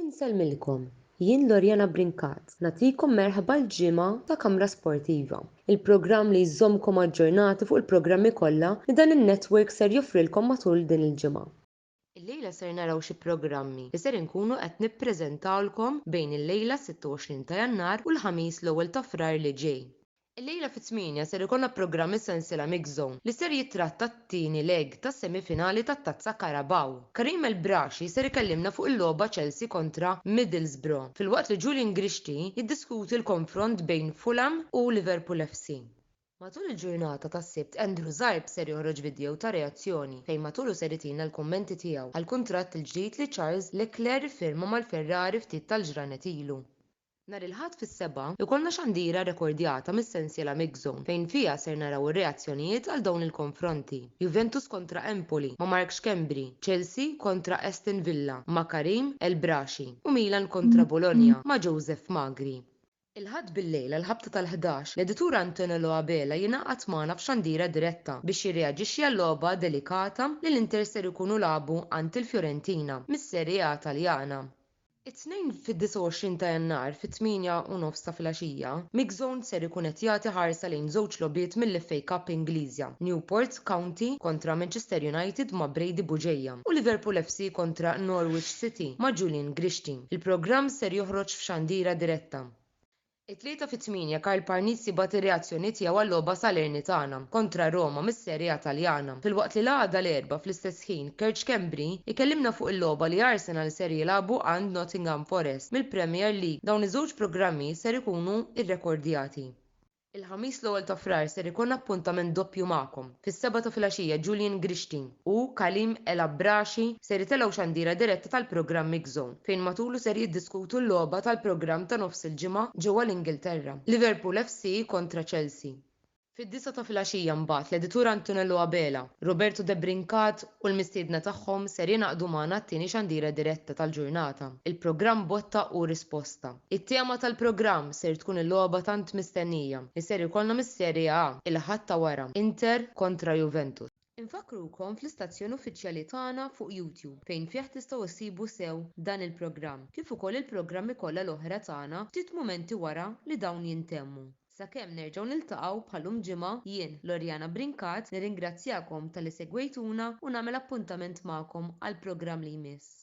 Insellmilkom, jien Loriana Brincat nagħtikom merħba l-ġimgħa ta' Kamra Sportiva, il-programm li jżommkom aġġornati fuq il-programmi kollha li dan in-network ser joffrilkom matul din il-ġimgħa. Illejla ser naraw xi programmi li ser inkunu qed nippreżentawlkom bejn illejla s-26 ta' Jannar u l-Ħamis l-ewwel ta' Frar li ġej. Illejla fit-tmienja ser ikollna programm is-sensiela Mixed Zone li ser jittratta t-tieni leg tas-semifinali tat-Tazza Carabao. Karim El Brashi ser ikellimna fuq il-logħba Chelsea kontra Middlesbrough, filwaqt li Julian Grixti jiddiskuti l-konfront bejn Fulham u Liverpool FC. Matul il-ġurnata tas-Sibt Andrew Zarb ser joħroġ vidjow ta' reazzjoni fejn matulu ser itina l-kummenti tiegħu għall-kuntratt il-ġdid li Charles Leclerc iffirma mal-Ferrari ftit tal-ġranet ilu. Nhar il-Ħadd fis-sebgħa, ikollna xandira rekordjata mis-sensiela Mixzone fejn fiha ser naraw ir-reazzjonijiet għal dawn il-konfronti, Juventus kontra Empoli ma' Mark Schembri, Chelsea kontra Aston Villa ma' Karim El Braschi u Milan kontra Bologna ma' Joseph Magri. Il-Ħadd bil-lejl għall-ħabta tal-ħdax, l-editur Antonello Abela jingħaqad magħna f'xandira diretta biex jirreaġixxi għal-logħba delikata li l-Inter ser ikunu lagħbu għand il-Fiorentina, mis-Serie A Taljana. It-Tnejn fid-29 ta' Jannar fit-tmienja u nofs ta' filgħaxija, MixZone ser ikun qed jagħti ħarsa lejn żewġ logħbiet mill-FA Cup Ingliża, Newport County kontra Manchester United ma' Brady Bugeja u Liverpool FC kontra Norwich City ma' Julian Grixti. Il-programm ser joħroġ f'xandira diretta. It-Tlieta fi tmienja Karl Parnizzi bagħat ir-reazzjoni tiegħu għal-logħba Salernitana kontra Roma mis-Serie A Taljana, filwaqt li l-għada l-Erbgħa fl-istess ħin Kerj Schembri jkellimna fuq il-logħba li Arsenal ser jilagħbu għand Nottingham Forest mill-Premier League. Dawn iż-żewġ programmi ser ikunu rrekordjati. Il-Ħamis l-ewwel ta' Frar ser ikun appuntament doppju magħkom. Fis-sebgħa ta' filgħaxija Julian Grishtin u Khalim El Abrashi ser itellgħu xandira diretta tal-programm Mix Zone fejn matulu ser jiddiskutu l-logħba tal-programm ta' nofs il-ġimgħa ġewwa l-Ingilterra, Liverpool FC kontra Chelsea. Fid-disgħa ta' filgħaxija mbagħad l-editur Antonello Abela, Roberto De Brincat u l-mistiedna tagħhom ser jingħaqdu magħna għat-tieni xandira diretta tal-ġurnata, il-programm Botta u Risposta. It-tema tal-programm ser tkun il-logħba tant mistennija li ser ikollna mis-Serie A il-Ħadd ta' wara, Inter kontra Juventus. Infakkrukom fl-istazzjon uffiċjali tagħna fuq YouTube fejn fih tistgħu ssibu sew dan il-programm kif ukoll il-programmi kollha l-oħra tagħna ftit mumenti wara li dawn jintemmu. Sakemm nerġgħu niltaqgħu bħalum ġimgħa, jien, Loriana Brincat, nirringrazzjakom talli segwejtuna u nagħmel appuntament magħkom għall-programm li jmiss.